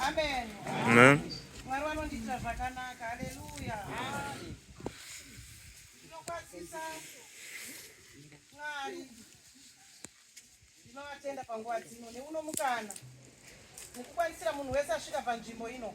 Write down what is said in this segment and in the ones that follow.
Amen. Mwari vanondiitira zvakanaka. Haleluya. Ndinokwazisa Mwari. Ndinovatenda panguva dzino neuno mukana mukukwanisira munhu wese asvika panzvimbo ino.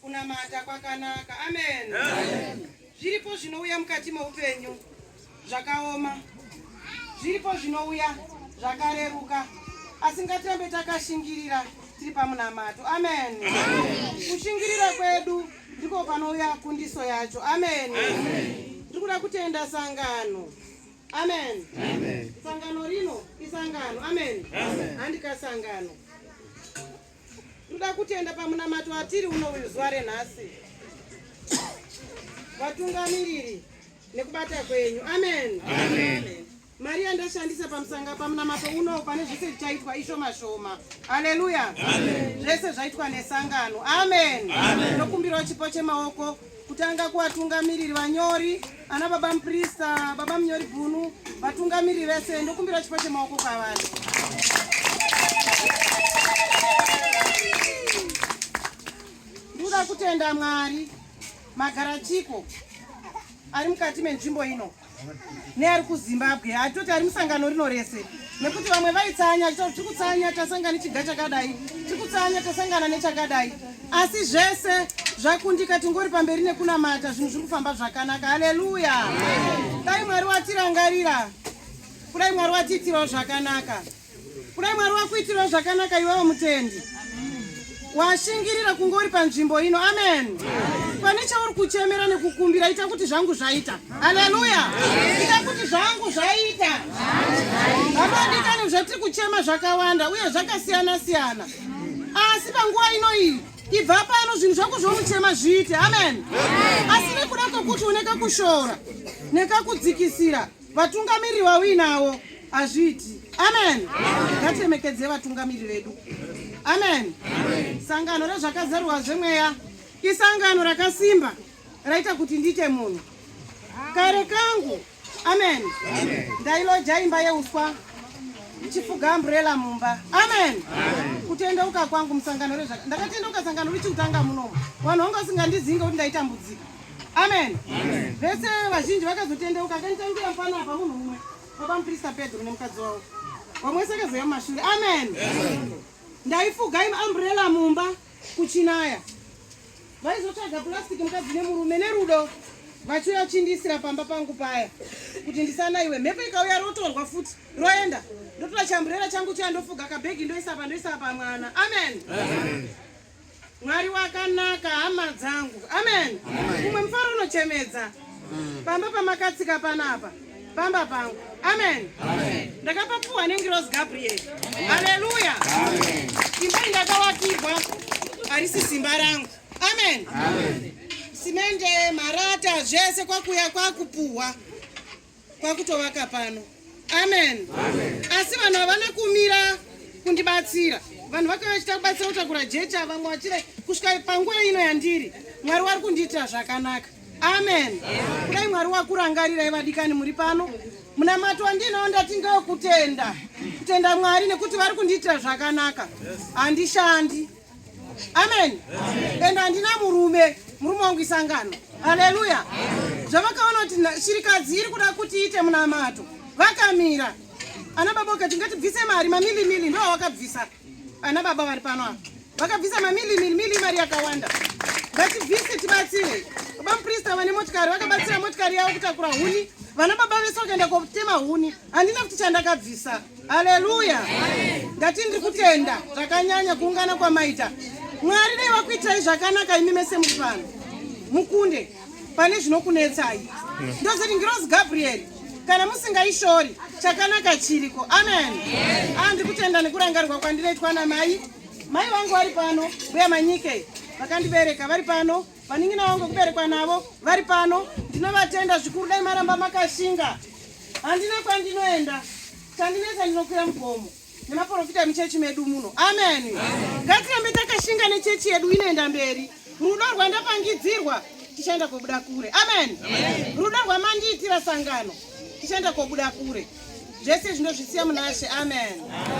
Kunamata kwakanaka. Amen. Zviripo zvinouya mukati meupenyu zvakaoma, zviripo zvinouya zvakareruka, asi ngatirambe takashingirira tiri pamunamato. Amen. Kushingirira kwedu ndiko panouya kundiso yacho. Amen. Tiri kuda kutenda sangano. Amen. Sangano rino isangano. Amen. Handika sangano. Ndoda kutenda pamunamato watiri uno uyu zuva renhasi, vatungamiriri nekubata kwenyu. Amen, amen. amen mari yandashandisa pamusanga pamunamato uno pane zvese zvichaitwa ishoma shoma aleluya zvese zvaitwa nesangano amen ndokumbirawo chipo chemaoko kutanga kuvatungamiriri vanyori ana baba muprista baba munyori bunu vatungamiriri vese ndokumbira chipo chemaoko kwavari ndikuda kutenda mwari magarachiko ari mukati menzvimbo ino neari kuzimbabwe atoti ari musangano rino rese nekuti vamwe vaitsanya achitaura tiri kutsanya tasangana nechiga chakadai tiri kutsanya tasangana nechakadai asi zvese zvakundika tingori pamberi nekunamata zvinhu zviri kufamba zvakanaka haleluya dai mwari watirangarira kudai mwari watiitirawo zvakanaka Kudai Mwari wakuitirawo zvakanaka iwewo mutendi washingirira kunge uri panzvimbo ino amen pane chauri kuchemera nekukumbira ita kuti zvangu zvaita haleluya ita kuti zvangu zvaita hamadikani zvatiri kuchema zvakawanda uye zvakasiyana siyana asi panguva ino iyi ibva pano zvinhu zvako zvomuchema zviite amen asi nekuda kwekuti une kakushora nekakudzikisira Vatungamiriri vauinawo hazviiti. Amen. Ngatiremekedze vatungamiriri vedu. Amen. Sangano rezvakazarurwa zvemweya isangano rakasimba raita kuti ndiite munhu kare kangu. Amen. Ndailoja imba yeuswa chifuga umbrella mumba amen kutendeuka kwangu musangano rezvaka ndakatendeuka sangano richikutanga munomu vanhu vanga vasingandizinga kuti ndaitambudzika Amen. Amen. Vese vazhinji vakazotendeuka akanitangira mfana apa munhu mumwe baba muprista Pedro nemukadzi wavo vamwe saka zveya mumashure amen ndaifuga im umbrella mumba kuchinaya vaizotsvaga plastic mukadzi nemurume nerudo vachiuya vachindiisira pamba pangu paya kuti ndisanaiwe mhepo ikauya rotorwa futi roenda ndotora chambrera changu chiya ndofuga kabhegi ndoisa pa ndoisa pamwana amen, amen. Mwari wakanaka hama dzangu. Amen. Umwe mfaro unochemedza. Mm. Pamba pamakatsika panapa. Pamba pangu. Amen. Amen. Ndakapapuwa nengirozi Gabriel. Haleluya. Amen. Imba indakawakirwa harisi simba rangu. Amen. Amen. Simende, marata, zvese kwakuya kwakupuwa. kwakutovaka pano amen, amen. asi vanhu havana kumira kundibatsira vanhu vakauya vachita kubatsira kutakura jecha vamwe vachire kusvika panguva ino yandiri mwari wari kundiitira zvakanaka amen kudai mwari wakurangarirai vadikani muri pano munamato wandinawo ndati ndokutenda kutenda mwari nekuti vari kundiitira zvakanaka handishandi yes. amen and handina murume murume wangu isangano haleluya zvavakaona kuti shirikadzi iri kuda kuti iite munamato vakamira ana baba ukati ngatibvise mari mamilimili ndo awakabvisa ana baba vari pano apa vakabvisa mamilimili mili mari yakawanda ngatibvise tibatsire baba muprista vane motikari vakabatsira motikari yavo kutakura huni vana baba vese vakaenda kotema huni handina kuti chandakabvisa Haleluya. Ndati ndiri kutenda zvakanyanya kuungana kwamaita. Mwari dai vakuitai zvakanaka imi mese muri pano. Mukunde pane zvinokunetsai. Ndozoti ngirozi Gabriel kana musingaishori chakanaka chiriko. Amen. Ah, ndiri kutenda nekurangarirwa kwandinoitwa namai. Mai vangu vari pano, mbuya Manyike vakandibereka vari pano. Vanin'ina vangu kuberekwa navo vari pano, ndinovatenda zvikuru. Dai maramba makashinga, handina kwandinoenda. Chandinetsa ndinokwira mugomo nemaporofita emuchechi medu muno. Ameni, ngatirambe takashinga nechechi yedu inoenda mberi. Rudo rwandapangidzirwa tichaenda kobuda kure. Ameni, rudo rwamandiitira sangano tichaenda kobuda kure. Zvese zvino zvisiya munashe. Ameni.